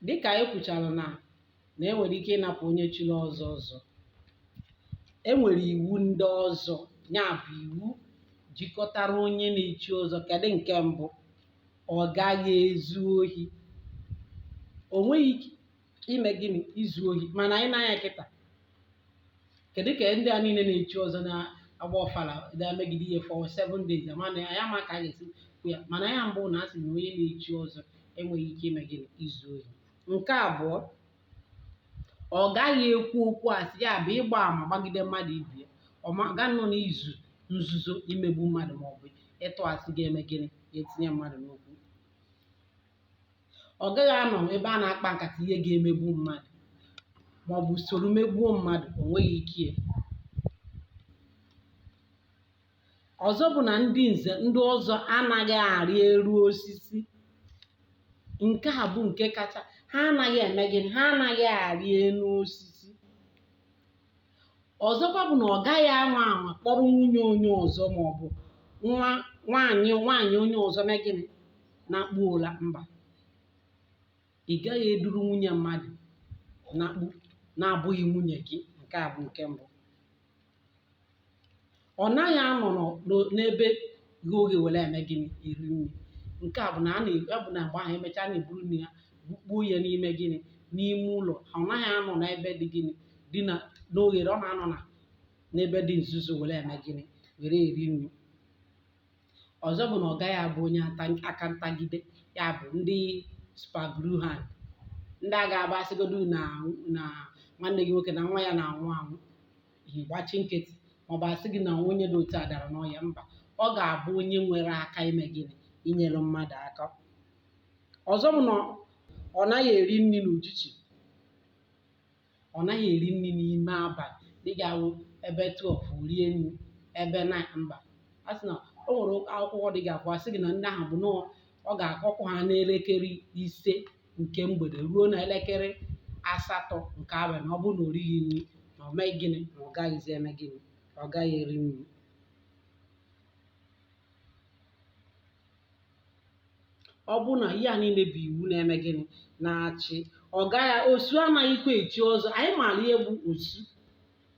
dịkà anyị kwùchàrà nà nà e nwèrè ike ịnapụ onye chiri ọzọ ọzọ e nwèrè iwu ndị ọzọ ya bụ iwu jikọtara onye na-echi ọzọ kedụ nke mbụ ọ gaghị ezu ohi o nweghị ike ime gịnị izu ohi mana anyị na-anya kịta kedu ka ndị a niile na-echi ọzọ na-agba ọfala na-emegide ihe for seven days ama na anyị ama ka a ga-esi kwuo ya mana ya mbụ na a sị na onye na-echi ọzọ enweghị ike ime gịnị izu ohi nke abụọ ọ gaghị ekwu okwu asị ya bụ ịgba ama gbagide mmadụ ibe ya ọ ma- ga nọ n'izu nzuzo imegbu mmadụ maọbụ ịtụ asị ga-eme gịnị ga-etinye mmadụ n'okwu ọ gaghị anọ ebe a na-akpa nkata ihe ga-emegbu mmadụ ma ọ bụ soro megbuo mmadụ o nweghị ike ọzọ bụ na ndị nze ndị ọzọ anaghị arị elu osisi nke a bụ nke kacha ha anaghị eme gịnị ha anaghị arị elu osisi ọzọkwa bụ na ọ gaghị anwa anwa kpọrọ nwunye onye ọzọ ma ọ bụ nwa nwaanyị nwaanyị onye ọzọ mee gịnị nakpuo ụla mba ị gaghị eduru nwunye mmadụ nakpuo na-abụghị nwunye gị nke a bụ nke mbụ ọ naghị anọ n'ebe ghe oghe were eme gịnị eri nri nke a bụ na a na-abụ na mgbe ahụ emechaa a na-eburu nri ya bukpuo ya n'ime gịnị n'ime ụlọ ọ naghị anọ n'ebe dị gịnị dị na n'oghere ọ na-anọ na n'ebe dị nzuzo were eme gịnị were eri nri ọzọ bụ na ọ gaghị abụ onye ata- aka ntagide ya bụ ndị super glue hand ndị a ga-abụ a sịgodu na na nwanne gị nwoke na nwa ya na-anwụ anwụ ị gbachi nkịtị maọbụ a sị gị na onye dị otu a dara n'ọya mba ọ ga-abụ onye nwere aka ime gịnị inyere mmadụ aka ọzọ bụ na ọ naghị eri nri n'ujichi ọ naghị eri nri n'ime abalị dịka ebe 12 rie nri ebe 9 mba a sị na o nwere akwụkwọ dị ga-abụ a sị gị na ndị ahụ bụ na ọ ga-akọkwa ha n'elekere ise nke mgbede ruo na elekere asatọ nke abalị ọ bụrụ na o righị nri na o mee gịnị na ọ gaghịzi eme gịnị na ọ gaghị eri nri ọ bụrụ na ihe a niile bụ iwu na-eme gịnị na-achị ọ gaghị osu anaghịkwa echi ọzọ anyị maara ihe bụ osu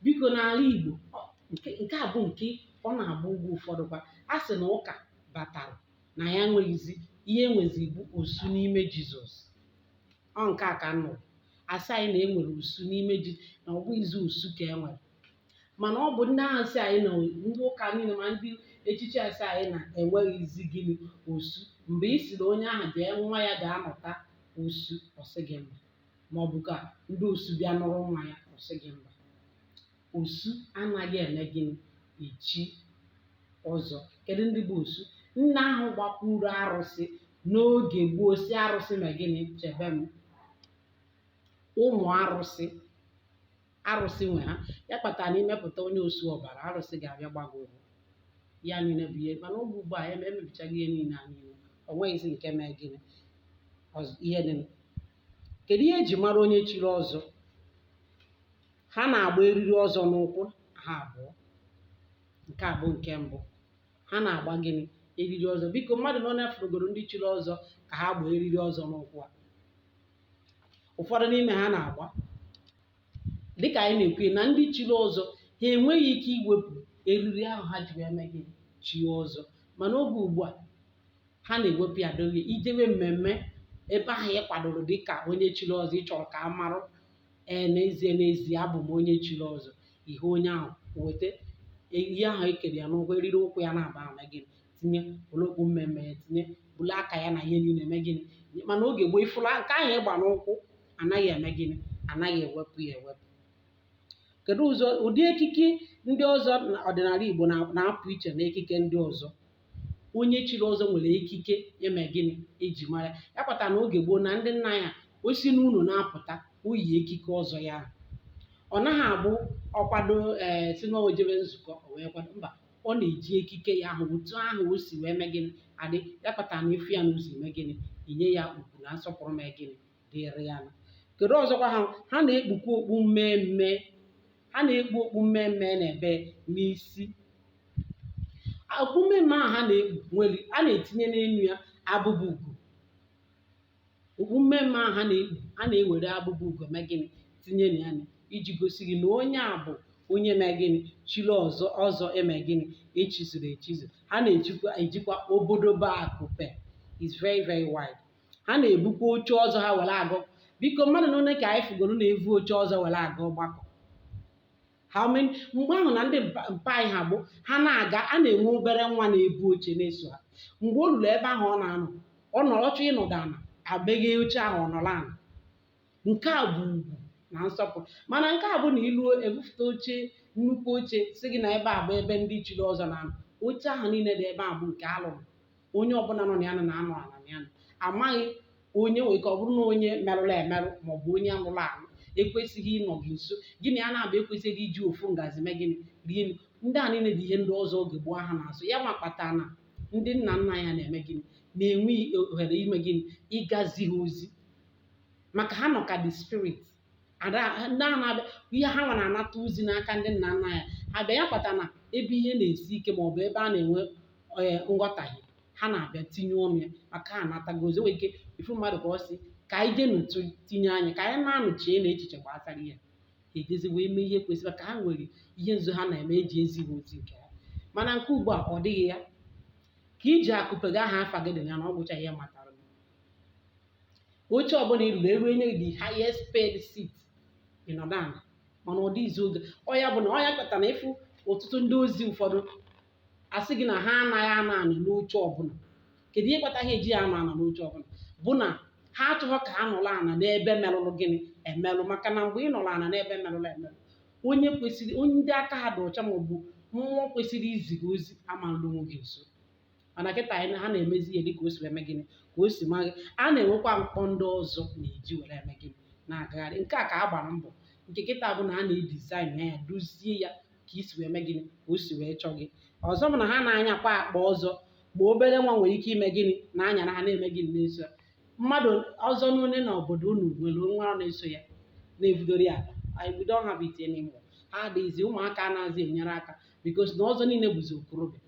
biko n'ala Igbo ọ- nke nke a bụ nke ọ na-abụ ugbu a ụfọdụ kwa a sị na ụka batara na ya enweghịzi ihe enwezi bụ osu n'ime jizọs ọ nke a ka nọ asị anyị na enwere osu n'ime ji na ọ bụghịzi osu ka enwere mana ọ bụ ndị ahụ sị anyị na ndị ụka niile ma ndị echichi asị anyị na enweghịzi gịnị osu mgbe ị sịrị onye ahụ jee nwa ya ga-anụta osu ọ sị gị mba ma ọ bụ ka ndị osu bịa nụrụ nwa ya ọ sị gị mba Osu anaghị eme gịnị? Echi ọzọ. Kedụ ndị bụ osu? Ndị ahụ gbakwuru arụsị n'oge gboo sị arụsị mee gịnị? Chebe m. Ụmụ arụsị arụsị nwe ha ya kpatara na i mepụta onye osu ọbara arụsị ga-abịa gba gị ụgwọ ya niile bụ ihe mana oge ugbu a eme- emebichago ihe niile a niile o nweghịzi nke mee gịnị ọzọ ihe dị kedu ihe eji mara onye chiri ọzọ ha na-agba eriri ọzọ n'ụkwụ ha abụọ nke a bụ nke mbụ ha na-agba gịnị eriri ọzọ biko mmadụ na one fụrụgoro ndị chiri ọzọ ka ha gbaa eriri ọzọ n'ụkwụ a ụfọdụ n'ime ha na-agba dịka anyị na-ekwu na ndị chiri ọzọ ha enweghị ike iwepụ eriri ahụ ha ji wee mee gịnị chie ọzọ mana oge ugbu a ha na-ewepụ ya dowe i jewe mmemme ebe ahụ ị kwadoro dịka onye chiri ọzọ ị chọrọ ka a marụ ee n'ezie n'ezie abụ m onye chiri ọzọ ihe onye ahụ weta ihe ahụ ekere ya n'ụkwụ eriri ụkwụ ya naabọ ahụ mee gịnị tinye welu okpu mmemme ya tinye bulu aka ya na ihe niile mee gịnị mana oge gboo ị fụla nke ahụ ị gba n'ụkwụ anaghị eme gịnị anaghị ewepụ ya ewepụ kedu ụzọ ụdị ekike ndị ọzọ na- ọdịnala Igbo na- na-apụ iche na ekike ndị ọzọ onye chiri ọzọ nwere ekike eme gịnị eji mara ya ya kpata na oge gboo na ndị nna ya o si n'ụlọ na-apụta o yi ekike ọzọ ya ahụ. ọ naghị abụ ọ kwado ee sị na o jebe nzukọ o wee kwado mba ọ na-eji ekike ya ahụ otu ahụ o si wee mee gịnị adị ya kpata na ị fụ ya n'ụzọ eme gịnị i nye ya ugwu na nsọpụrụ mee gịnị dịrị ya kedu ọzọkwa ha ha na-ekpukwa okpu mmemme ha na-ekpu okpu mmemme na-ebe n'isi okpu mmemme ahụ ha na-ekpu nwere a na-etinye n'elu ya abụba ugo okpu mmemme ahụ ha na-ekpu a na-ewere abụba ugo mee gịnị tinye na ya iji gosi gị na onye a bụ onye mee gịnị chiri ọzọ ọzọ eme gịnị echizuru echizu ha na-ejikwa ejikwa obodobo akụpe is very very wide ha na-ebukwa oche ọzọ ha were aga biko mmadụ na one ka anyị fụgoro na-evu oche ọzọ were aga ọgbakọ how many mgbe ahụ na ndị mpa mpa anyị ha bụ ha na-aga a na-enwe obere nwa na-ebu oche na-eso ha mgbe o ruru ebe ahụ ọ na-anọ ọ nọrọ ọ chọọ ịnọdụ ala emeghee oche ahụ ọ nọrọ ala nke a bụ ugwu na nsọpụrụ mana nke a bụ na i luo ebufụta oche nnukwu oche sị gị na ebe a bụ ebe ndị chiri ọzọ na-anọ oche ahụ niile dị ebe a bụ nke alụrụ onye ọbụla nọ na ya nọ na-anọ ala na ya nọ amaghị onye nwere ike ọ bụrụ na onye merụrụ emerụ ma ọ bụ onye lụrụ alụ ekwesịghị ịnọ gị nso gị na ya naabọ ekwesịghị iji ofu ngazi mee gịnị rie nri ndị a niile bụ ihe ndị ọzọ oge gboo ha na-asọ ya ma kpatara na ndị nna nna anyị ha na-eme gịnị na-enwe ohere ime gịnị ịgazi ha ozi maka ha nọ ka the spirit ada ha- ndị a na-abịa ihe ha nwa na-anata ozi n'aka ndị nna nna anyị ha bịa ya kpata na ebe ihe na-esi ike maọbụ ebe a na-enwe ee, nghọtahie ha na-abịa tinye ọnụ ya maka ha anatago ozi nwere ike ịfụ mmadụ ka ọ sị ka anyị jee n'otu tinye anya ka anyị na-anụchie na echiche gbasara ihe ha ejezi wee mee ihe kwesịrị ka ha nwere ihe nzu ha na-eme eji ezi ha ozi nke ha mana nke ugbu a ọ dịghị ya ka iji akụpega aha afa gị dị na ya na ọ gwụcha ihe matara gị. oche ọbụla i ruru eru enye gị the highest paid seat ị nọdụ ana mana ọ dịghịzi oge ọ ya bụ na ọ ya kpata na ịfụ ọtụtụ ndị ọzọ ụfọdụ asị gị na ha anaghị anọ ana n'oche ọbụla kedu ihe kpata ha ejighị anọ ana n'oche ọbụla bụ na ha achọghọ ka ha nọrọ ana n'ebe merụrụ gịnị emerụ maka na mgbe ị nọrọ ana n'ebe merụrụ emerụ onye kwesịrị onye ndị aka ha dị ọcha maọbụ mmụọ kwesịrị izi gị ozi amaghị anọ gị nso mana kịta anyị ha na-emezi ihe dịka o si eme gịnị ka o si masị ha na-enwekwa mkpọ ndị ọzọ na-eji were eme gịnị na-agagharị nke a ka a gbara mbọ nke kịta bụ na a na-edesign ya dozie ya ka i si wee mee gịnị ka o si wee chọọ gị ọzọ bụ na ha na-anyakwa akpa ọzọ ma obere nwa nwere ike ime gịnị na-anyara ha na-eme gịnị na-eso ya mmadụ ọzọ n'one na obodo unu nwere nwa na-eso ya na-ebudoro ya akpa anyị bido ha bụ ite n'ime ha adịghịzi ụmụaka anaghịzi enyere aka because na ọzọ niile bụzi okorobịa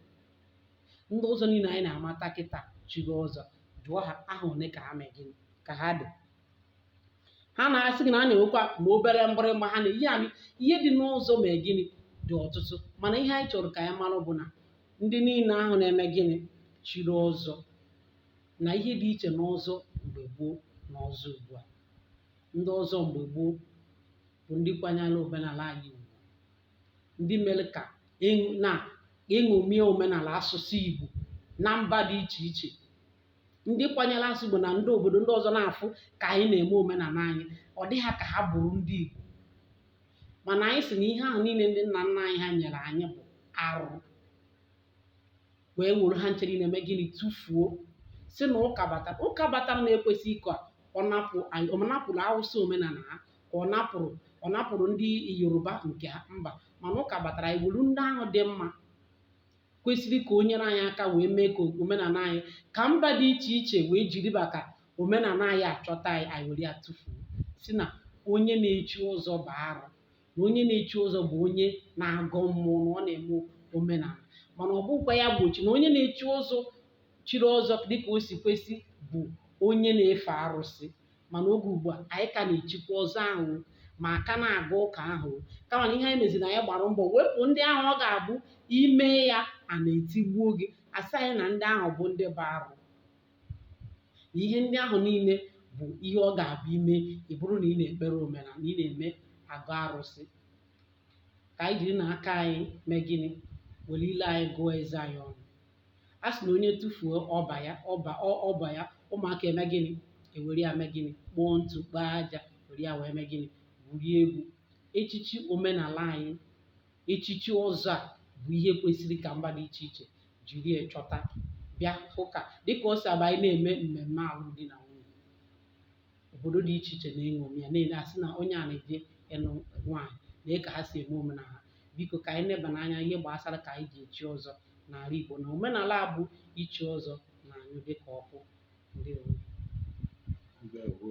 ndị ọzọ niile anyị na-amata kịta chiri ọzọ jụọ ha aha ole ka ha mee gịnị ka ha dị ha na-asị gị na a na-enwekwa ma obere mgbịrịgba ha na-eyi anyị ihe dị n'ọzọ mee gịnị dị ọtụtụ mana ihe anyị chọrọ ka anyị mara bụ na ndị niile ahụ na-eme gịnị chiri ọzọ na ihe dị iche n'ọzọ mgbe gboo na ọzọ ugbu a ndị ọzọ mgbe gboo bụ ndị kwanyere omenala anyị ugwu ndị mere ka na e ṅomie omenala asụsụ Igbo na mba dị iche iche ndị kwanyere asụsụ Igbo na ndị obodo ndị ọzọ na-afụ ka anyị na-eme omenala anyị ọ dị ha ka ha bụrụ ndị Igbo mana anyị sị na ihe ahụ niile ndị nna nna anyị ha nyere anyị bụ arụ wee were ha ncha niile mee gịnị tụfuo sị na ụka batara ụka batara na ekwesịrị ka ọ napụrụ Awụsa omenala ha ka ọ napụrụ ọ napụrụ ndị yoruba nke ha mba mana ụka batara anyị were ndị ahụ dị mma kwesịrị ka o nyere anyị aka wee mee ka omenala anyị ka mba dị iche iche wee jiri maka omenala anyị achọta anyị anyị were ya tụfuo sị na onye na-echi ọzọ bụ arụ na onye na-echi ọzọ bụ onye na-agọ mmụọ na ọ na-eme omenala mana ọ bụkwa ya gbochi na onye na-echi ọzọ chiri ọzọ dịka o si kwesị bụ onye na-efe arụsị mana oge ugbu a anyị ka na-echikwa ọzọ ahụ o, ma a ka na-aga ụka ahụ o. kama na ihe anyị meziri anyị gbara mbọ wepụ ndị ahụ ọ ga-abụ i mee ya a na-etigbuo gị a sị anyị na ndị ahụ bụ ndị bụ arụ na ihe ndị ahụ niile bụ ihe ọ ga-abụ i mee ị bụrụ na ị na-ekpere omenala na ị na-eme agọ arụsị ka anyị jiri na aka anyị mee gịnị were ile anyị gụọ eze anyị ọnụ a sị na onye tụfuo ọba ya ọba ọ- ọba ya ụmụaka eme gịnị ewere ya mee gịnị kpoo ntụ kpoo aja were ya wee mee gịnị gwurie egwu echichi omenala anyị echichi ọzọ a bụ ihe kwesịrị ka mba dị iche iche jiri ya chọta bịa hụ ka dịka o si abụ anyị na-eme mmemme alụmdi na nwunye obodo dị iche iche na-eṅomi ya na-ele a sị na onye a na-eje ịlụ nwaanyị lee ka ha si eme omenala ha biko ka anyị nebanụ anya ihe gbasara ka anyị ji echi ọzọ n'ala Igbo na omenala a bụ ichi ọzọ na-anyụ dịka ọkụ ndewo Ndewo.